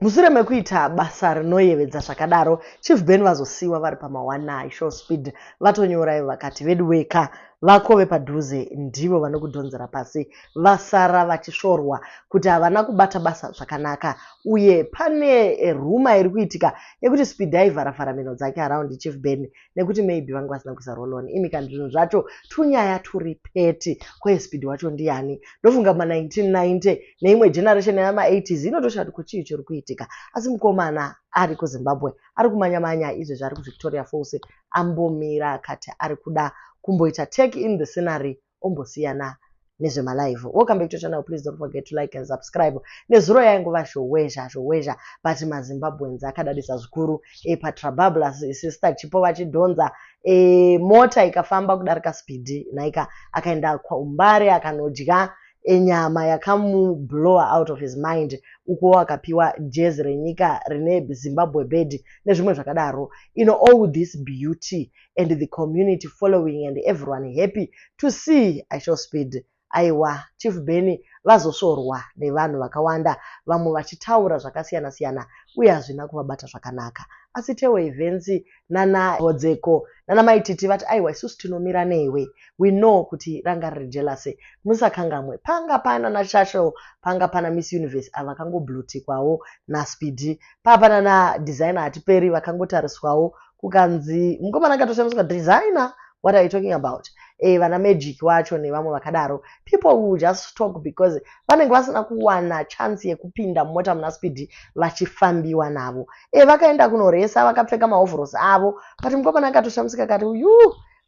Mushure mekuita basa rinoyevedza zvakadaro, Chief Ben vazosiiwa vari pamawanai show speed vatonyora ivo vakati veduwee ka vako vepadhuze ndivo vanokudhonzera pasi vasara vachisvorwa kuti havana kubata basa zvakanaka uye pane ruma iri kuitika yekuti speed aivharavhara mhino dzake around Chief Ben nekuti maybe vange vasina kuisa rolon imi kana zvinhu zvacho tunyaya turi peti kwaye speed wacho ndiyani ndofunga ma 1990 neimwe generation yama 80s inotosha kuti kuchii chiri kuitika asi mukomana ari kuzimbabwe ari kumanya manya izvezvi ari kuvictoria falls ambomira akati ari kuda kumboita take in the scenery ombosiyana nezvemalive wokambe kutoita nawo please don't forget to like and subscribe nezuro yaingova zhowezha zhowezha but mazimbabweans akadadisa zvikuru e patrababla sister chipo vachidhonza e, mota ikafamba kudarika speed naika akaenda kwaumbare akanodya enyama yakamublower out of his mind ukuwo akapiwa jezi renyika rine zimbabwe bed nezvimwe zvakadaro ino all this beauty and the community following and everyone happy to see i shall speed aiwa chief benny vazosvorwa nevanhu vakawanda vamwe vachitaura zvakasiyana siyana uye hazvina kuvabata zvakanaka asi tewe evhensi nana hodzeko nana maititi vati aiwa isusu tinomira newe we know kuti ranga riri jelase musakangamwe panga pana nachashel panga pana miss universe ava vakangoblutikwawo naspidi paa pana nadesigner hatiperi vakangotariswawo kukanzi mukomana akatoshandiswa designer what are you talking about eh, vana magic wacho nevamwe vakadaro people will just talk because vanenge vasina kuwana chance yekupinda mumota muna speed vachifambiwa navo eh, vakaenda kunoresa vakapfeka mahovhorosi avo but mukomana akatoshamisika kati uyu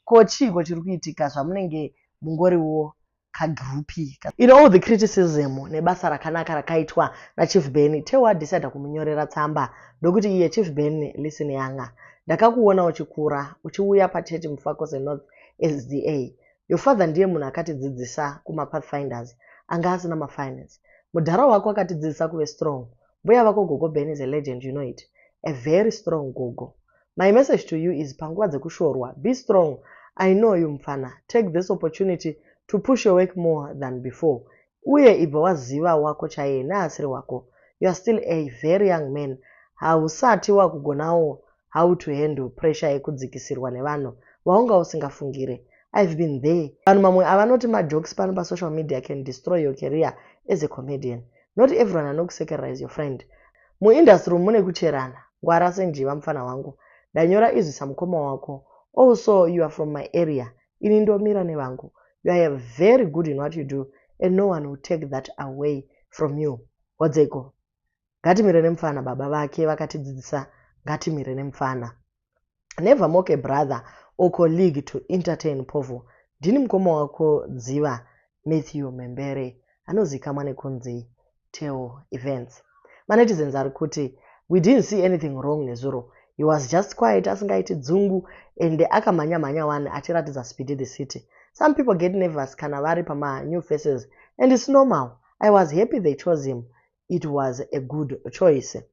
ko chiiko chiri kuitika zvamunenge mungoriwo kagroup ka in all the criticism nebasa rakanaka rakaitwa nachief benny tewa adecida kumunyorera tsamba ndokuti iye chief benny listen yanga ndakakuona uchikura uchiuya pachurch mufakose north sda your father ndiye munhu akatidzidzisa kumapathfinders anga asina mafinance mudhara wako akatidzidzisa kuve strong mbuya vako gogo benny is a legend you know it a very strong gogo My message to you is panguva dzekushorwa be strong I know you mfana take this opportunity to push your work more than before uye ibva waziva wako chaiye neasiri wako you are still a very young man hausati wakugonawo how to handle pressure yekudzikisirwa nevanhu vaunga usingafungire i've been there vanhu mamwe avanoti majokes pano pasocial media can destroy your career as a comedian not everyone anokusekerera is your friend Muindustry umu mune kucherana. Ngwara senjiva mfana wangu. Ndanyora izwi samukoma wako. Also you are from my area. Ini ndomira nevangu. You are very good in what you do and no one will take that away from you. Hodzeko. Ngatimire nemfana baba vake vakatidzidzisa ngatimire nemfana. never mock a brother or colleague to entertain povo ndini mukoma wako dziva matthew mhembere anozikamwa nekunzi teo events manetizens ari kuti we didn't see anything wrong nezuro he was just quiet asingaiti dzungu ende akamhanya mhanya wani achiratidza speedy the city some people get nervous kana vari pama new faces and its normal i was happy they chose him it was a good choice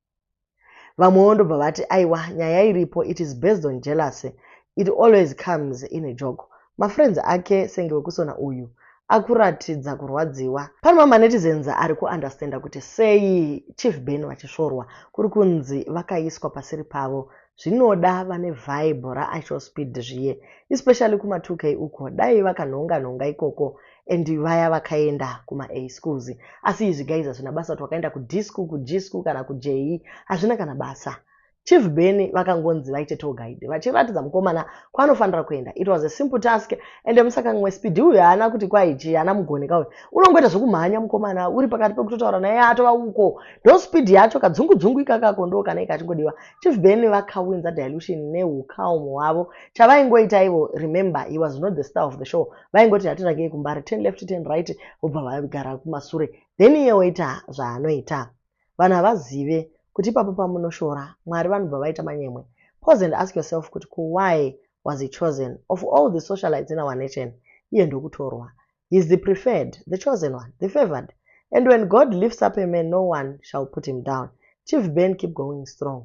vamwewo ndobva vati aiwa nyaya iripo it is based on jealousy it always comes in a joke mafriends ake senge wekusona uyu akuratidza kurwadziwa pano mamanetizens ari kuunderstanda kuti sei chief ben vachisvorwa kuri kunzi vakaiswa pasiri pavo zvinoda vane vibe raisho speed zviye especially kuma2k uko dai vakanhonga nhonga ikoko and vaya vakaenda kuma a schools asi izvi guys hazvina basa kuti wakaenda kud school kug school kana kug e, hazvina kana basa chief beny vakangonzi vaite tour guide vachiratidza mukomana kwaanofanira kuenda it was a simple task ende musakangi wespidi uyu haana kuti kwaichi haana mugoneka uyu unongoita zvekumhanya mukomana uri pakati pekutotaura naye atova uko ndo speed yacho kadzungudzungu ikakako ndo kana ika achingodiwa chief beny vakawinza dilution neucalm hwavo chavaingoita ivo remember he was not the star of the show vaingoti hatiragei kumbare ten left ten right vobva vagara kumasure then iye oita zvaanoita vanhu havazive kuti ipapo pamunoshora mwari vanobva vaita manyemwe pose and ask yourself kuti ko why was he chosen of all the socialites in our nation iye ndokutorwa heis the preferred the chosen one the favored and when god lifts up a man no one shall put him down chief ben keep going strong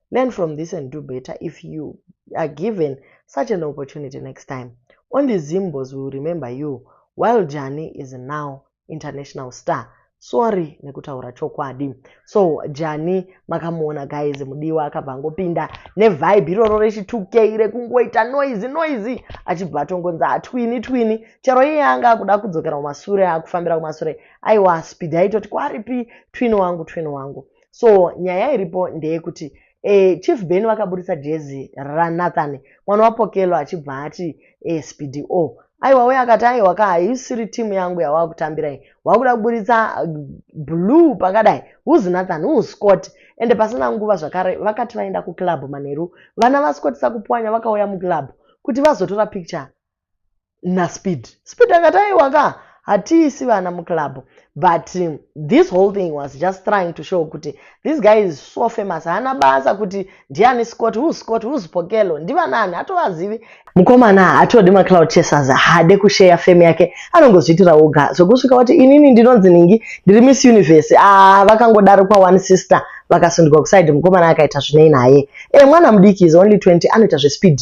learn from this and do better if you are given such an opportunity next time only zimbos will remember you while jani is now international star sorry nekutaura chokwadi so jani makamuona guys mudiwa akabva angopinda nevibe iroro rechitukei rekungoita noise noise achibva atongonzi atwini twini chero iye anga akuda kudzokera kumasure akufambira kumasure aiwa speed aitoti kwaripi twini wangu twini wangu so nyaya iripo ndeyekuti e, chief ben vakaburitsa jezi ranathan mwana wapokelo achibva ati e, eh, spdo aiwa uye akati aiwa ka haisiri timu yangu yawava kutambira iyi wava kuda kuburitsa eh, blue pakadai who's nathan who's scott ende pasina nguva zvakare vakati vaenda kuclub manheru vana vascott sakupwanya vakauya muclub kuti vazotora picture naspeed speed akati aiwa ka hatiisi vana muclub but um, this whole thing was just trying to show kuti this guy is so famous haana basa kuti ndiani scott who scott who spokelo ndivanani hatovazivi mukomana hatodi macloud chasers haade kusheya fame yake anongozviitira oga zvekusvika kuti inini ndinonzi ningi ndiri miss universe ah, vakangodaro kwa one sister vakasundikwa kuside mukomana akaita zvinei naye e mwana mudiki is only 20 anoita zvespeed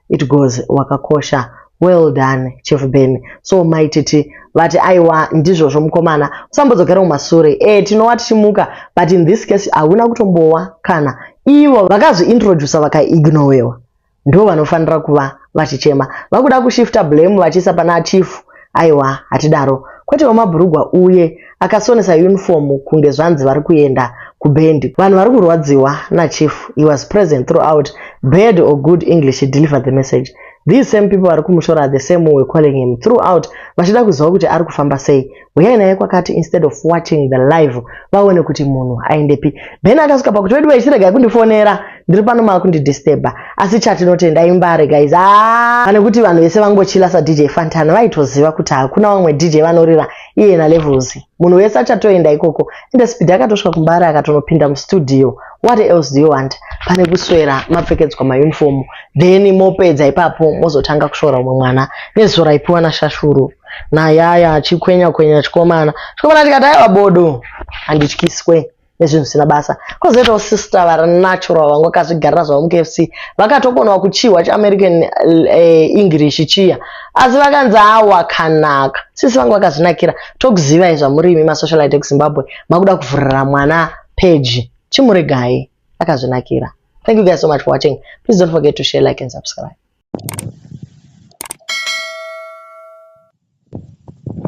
It goes wakakosha. Well done Chief Ben. So mai Titi vati aiwa ndizvozvo mukomana usambodzokera kumasure. Eh tinowa tichimuka but in this case hauna kutombowa kana ivo vakazviintroducer vakaignowewa ndivo vanofanira kuva vachichema. Vakuda kushifta blame vachiisa pana Chief Aiwa, hatidaro. Kwete wemabhurugwa uye akasonesa uniform kunge zvanzi vari kuenda kubhendi. Vanhu vari kurwadziwa nachief. He was present throughout. Bad or good English he delivered the message. These same people vari kumushora are the same who were calling him throughout vachida kuziva kuti ari kufamba sei. Huyai naye kwakati instead of watching the live vaone kuti munhu aendepi. Ben akasvika pakuti veduwee chiregai kundifonera. ndiri pano makundidisturba asi chatinotenda imbare guys ah! pane kuti vanhu vese vangochila sadj fantana vaitoziva kuti hakuna vamwe dj vanorira iye nalevels munhu wese achatoenda ikoko ende speed akatosvika kumbare akatonopinda mustudio what else do you want pane kuswera mapfekedzwa mauniform then mopedza ipapo mozotanga kushora umwe mwana nezuva raipiwa nashashuru nayaya chikwenya kwenya chikomana chikomana tikati aiwa bodo handityiswe nezvinhu zvisina basa kozoitawo sister vari natural vangokazvigarira zvavo mukfc vakatokonawo kuchihwa cheamerican eh, english chiya asi vakanzi awakanaka sisi vangu vakazvinakira tokuzivai zvamuri imi masocialite ekuzimbabwe makuda kuvhurira mwana peji chimuregai akazvinakira thank you guys so much for watching please don't forget to share like and subscribe